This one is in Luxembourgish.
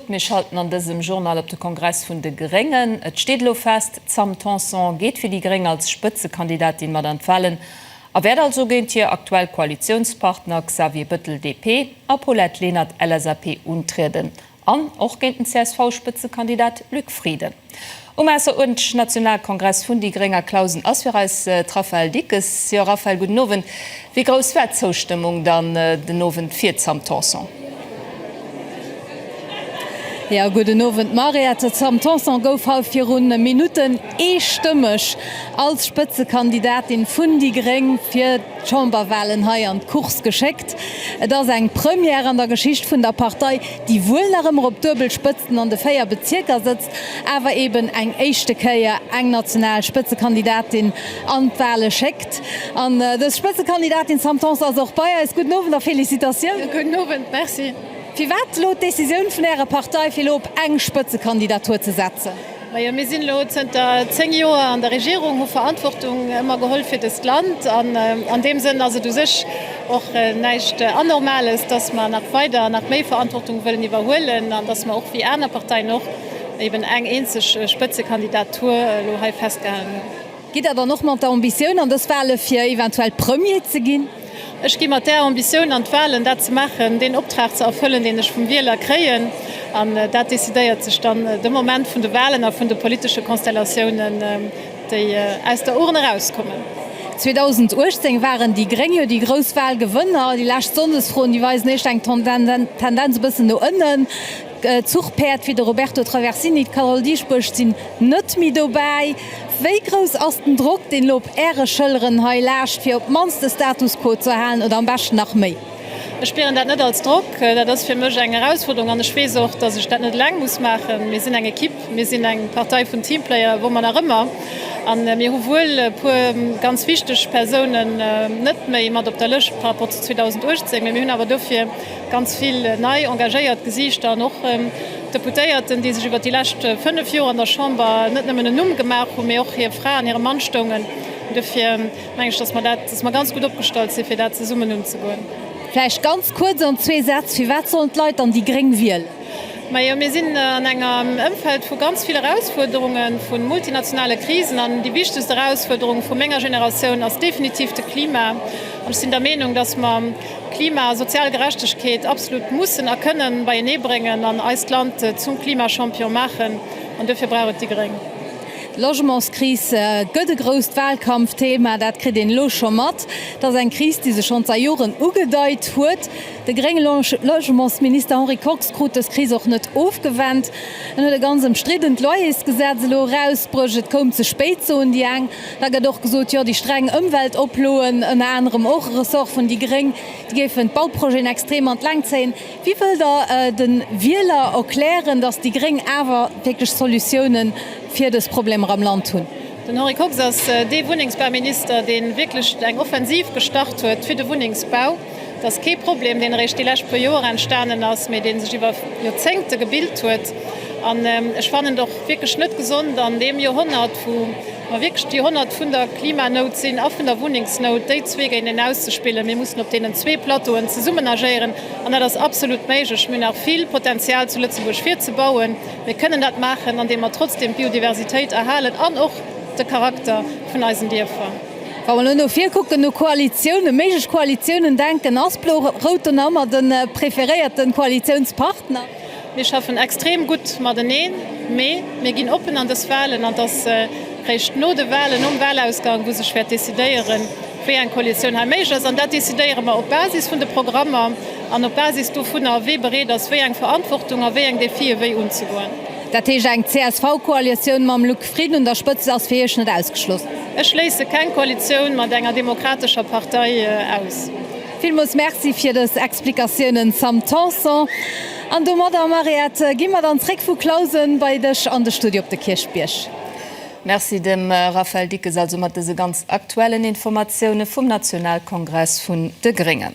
Mir schalten an dësem Journal op de Kongress vun de Gréngen. Et steet elo fest, d'Sam Tanson geet fir déi Gréng als Spëtzekandidatin mat an d'Wahlen a wäert also géint hir aktuell Koalitiounspartner Xavier Bëttel, DP, a Paulette Lenert, LSAP, untrieden an och géint den CSV-Spëtzekandidat Luc Frieden. Um ausseruerdentlech Nationalkongress vun déi Gréng a Clausen ass fir eis d'Raphaëlle Dickes. Jo Raphaëlle, gudden Owend. Wéi grouss war d'Zoustëmmung dann den Owend fir d'Sam Tanson? Jo gudden Owend Mariette, d'Sam Tanson gouf hei viru Minutten eestëmmeg als Spëtzekandidatin vun déi Gréng fir d'Chamberwalen hei an d'Course geschéckt. Et ass eng Première an der Geschicht vun der Partei. déi wuel nach ëmmer op duebel Spëtzen an de 4 Bezierker sëtzt, awer eben eng éischte Kéier eng national Spëtzekandidatin an d'Wahle schéckt. An dës Spëtzekandidatin Sam Tanson ass och bei eis. Gudden Owend a Felicitatioun. Gudden Owend, merci. Firwat elo d'Decisioun vun Ärer Partei fir elo op eng Spëtzekandidatur ze setzen? Majo, mir sinn elo zënter 10 Joer an der Regierung, hu Verantwortung ëmmer geholl fir dëst Land an an deem Sënn ass et u sech och näischt Anormales, dass mer nach weider nach méi Verantwortung wëllen iwwerhuelen an dass mer och wéi aner Parteien och eben eng eenzeg Spëtzekandidatur elo hei festgehalen hunn. Gitt Der dann och mat der Ambitioun an dës Wale fir eventuell Premier ze ginn? Ech gi mat där Ambitioun an d'Walen, dat ze maachen, deen Optrag ze erfëllen, deen ech vum Wieler kréien. An dat decidéiert sech dann de Moment vun de Walen a vun de politesche Konstellatiounen, déi aus der Urn erauskommen. 2018 waren déi Gréng jo déi grouss Walgewënner. Déi lescht Sonndesfroen, déi weisen éischter eng Tendenz e bëssen no ënnen. Zuchpäerd wéi de Roberto Traversini, d'Carole Dieschbourg sinn net méi dobäi. Wéi grouss ass den Drock, deen elo op Äre Schëlleren hei laascht, fir op d'mannst de Status quo ze erhalen oder am beschten nach méi? Ech spieren dat net als Drock. Dat ass fir mech eng Erausfuerderung an ech weess och, datt ech dat net eleng muss maachen. Mir sinn eng Ekipp, mir sinn eng Partei vun Teamplayer, wou mer nach ëmmer, a mir hu wuel e puer ganz wichteg Persounen net méi mat op der Lëscht par rapport zu 2018, mee mir hunn awer dofir Ganz vill nei engagéiert Gesiichter an och Deputéierten, déi sech iwwert déi lescht 5 Joer an der Chamber net nëmmen en Numm gemaach hunn, mee och hir Fra an hire Mann stoungen. Duerfir mengen ech, dass mer dat, dass mer ganz gutt opgestallt sinn, fir dat zesummen unzegoen. Vläicht ganz kuerz an zwee Sätz, Firwat sollen d'Leit dann déi gréng wielen? Majo, mir sinn an engem Ëmfeld vu ganz vill Erausfuerderunge vu multinationale Krisen. An déi wichtegst Erausfuerderung vu menger Generatioun ass definitiv de Klima. An ech sinn der Meenung, dass mer, Klima a sozial Gerechtegkeet absolut mussen a kënnen beienee bréngen an eist Land zum Klimachampion maachen. An duerfir brauch et déi gréng. D'Logementskris gëtt e grousst Wahlkampfthema. Dat kritt een elo scho mat. Et ass eng Kris, déi sech schonn zai Joren ugedeit huet. De grénge Logementsminister Henri Kox krut dës Kris och net ofgewennt. En huet e ganz ëmstriddent Loyersgesetz elo erausbruecht. Et koum ze spéit, soen déi eng. Da gëtt och gesot, jo déi streng Ëmweltoploen, ënner anerem och e Ressort vun déi Gréng, déi géifen d'Bauprojeten extrem an d'Längt zéien. Wéi wëllt Der de Wieler erklären, datt déi Gréng awer wierklech Solutiounen fir dës Problemer am Land hunn? Den Henri Kox ass dee Wunnengsbauminister, dee wierklech eng Offensiv gestart huet fir de Wunnengsbau. Et ass kee Problem, deen eréischt déi lescht puer Joer entstanen ass, mee dee sech iwwer Joerzéngte gebilt huet. An ech fannen et och wierklech net gesond an deem Joerhonnert, wou mer wierklech d'Joerhonnert vun der Klimanout sinn a vun der Wunnengsnout, déi zwee géinteneen auszespillen. Mir mussen op deenen zwee Plateauen zesummen agéieren an dat ass absolut méiglech. Mir hunn nach vill Potenzial zu Lëtzebuerg fir ze bauen. Mir kënnen dat maachen, andeem mer trotzdeem d'Biodiversitéit erhalen an och de Charakter vun eisen Dierfer. Wa mer elo no vir kucken, no Koalitiounen, méiglech Koalitiounen denken, ass Blo-Rout do nach ëmmer de preferéierte Koalitiounspartner? Mir schaffen extrem gutt mateneen, mee mir ginn oppen an dës Wahlen an et ass réischt no de Wahlen, nom Wahlausgang, wou sech wäert decidéieren, wéi eng Koalitioun hei méiglech ass. An dat decidéiere mer op Basis vun de Programmer an op Basis dovunner, wie bereet ass, wéi eng Verantwortung a wéi eng Défië wéi unzegoen. Dat heescht, eng CSV-Koalitioun mam Luc Frieden un der Spëtzt ass fir Iech net ausgeschloss? Ech schléisse keng Koalitioun mat enger demokratescher Partei aus. Villmools Merci fir dës Explikatiounen, Sam Tanson. An domadder, Mariette, gi mer dann zréck vu Clausen bei dech an de Studio op de Kierchbierg. Merci dem Raphaël Dickes also mat dëse ganz aktuellen Informatiounen vum Nationalkongress vun de Gréngen.